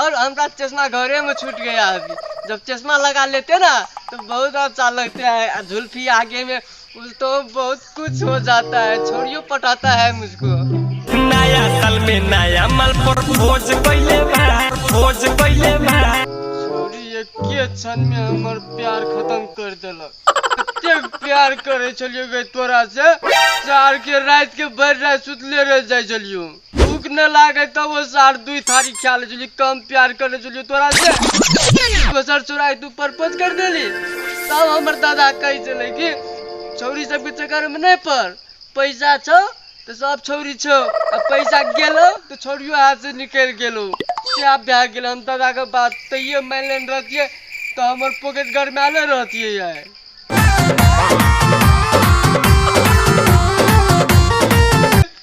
और हमरा चश्मा घरे में छूट गया अभी जब चश्मा लगा लेते ना तो बहुत अच्छा लगता है जुल्फी आगे में तो बहुत कुछ हो जाता है छोड़ियो पटाता है मुझको नया साल में नया माल पर भोज कैले बा भोज कैले बा छोड़ी एके क्षण में हमर प्यार खत्म कर देलक एते प्यार करे छलियो गई तोरा से चार के रात के भर रात सुतले रह जाय छलियो भूख न लागे तो वो सार दुई थारी ख्याल ले जुली कम प्यार कर ले जुली तोरा से वो सर चुराई तू परपंच कर देली तब हमर दादा कही चले कि छौरी सबके चक्कर में नहीं पड़ पैसा छो तो सब छौरी छो अब पैसा गेलो तो छौरियो हाथ से निकल गेलो क्या भए गेल हम दादा के बात तैयो मान लेने रहतिए तो हमर पॉकेट घर में आले रहतिए यार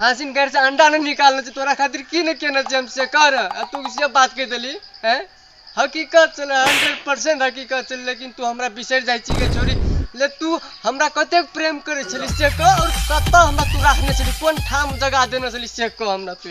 हासिन घर से अंडा ने निकालने छी तोरा खातिर की ने केने छी हम से कर आ तू से बात कह देली हैं हकीकत छल हंड्रेड परसेंट हकीकत छल लेकिन तू हमरा बिसर जाइ छी के छोरी ले तू हमरा कते प्रेम करे छली से कह और कत हमरा तू रखने छली कोन ठाम जगह देने छली से कह हमरा तू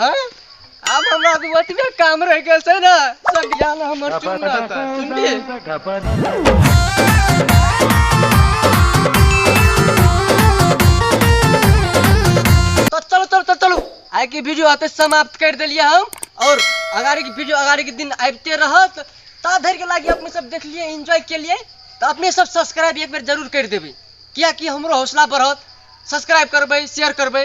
हैं अब हमरा तो ओतबे काम रह गेल छै ना सब ज्ञान हमर चुन रहता सुनली तो चलो चलो चलो चलो आइ के वीडियो आते समाप्त कर देलिए हम और अगाड़ी के वीडियो अगाड़ी के दिन आबिते रहत ता धरि के लागी अपने सब देख लिए एंजॉय के लिए तो अपने सब सब्सक्राइब एक बेर जरूर कर देबै कियाकि हमरो हौसला बढ़त सब्सक्राइब करबै शेयर करबै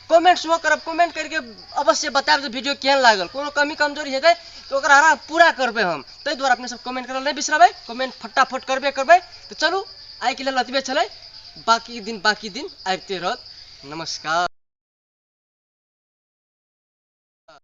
कमेंट सेहो करब कमेंट करके अवश्य बताएब जे वीडियो केहन लागल कोनो कमी कमजोरी हेतै तऽ ओकरा हरा पूरा करबै हम ताहि दुआरे अपने सब कमेंट करल नहि बिसरबै कमेंट फटाफट करबे करबै तऽ चलू आइके लेल एतबे छलै बाकी दिन बाकी दिन आबिते रहत नमस्कार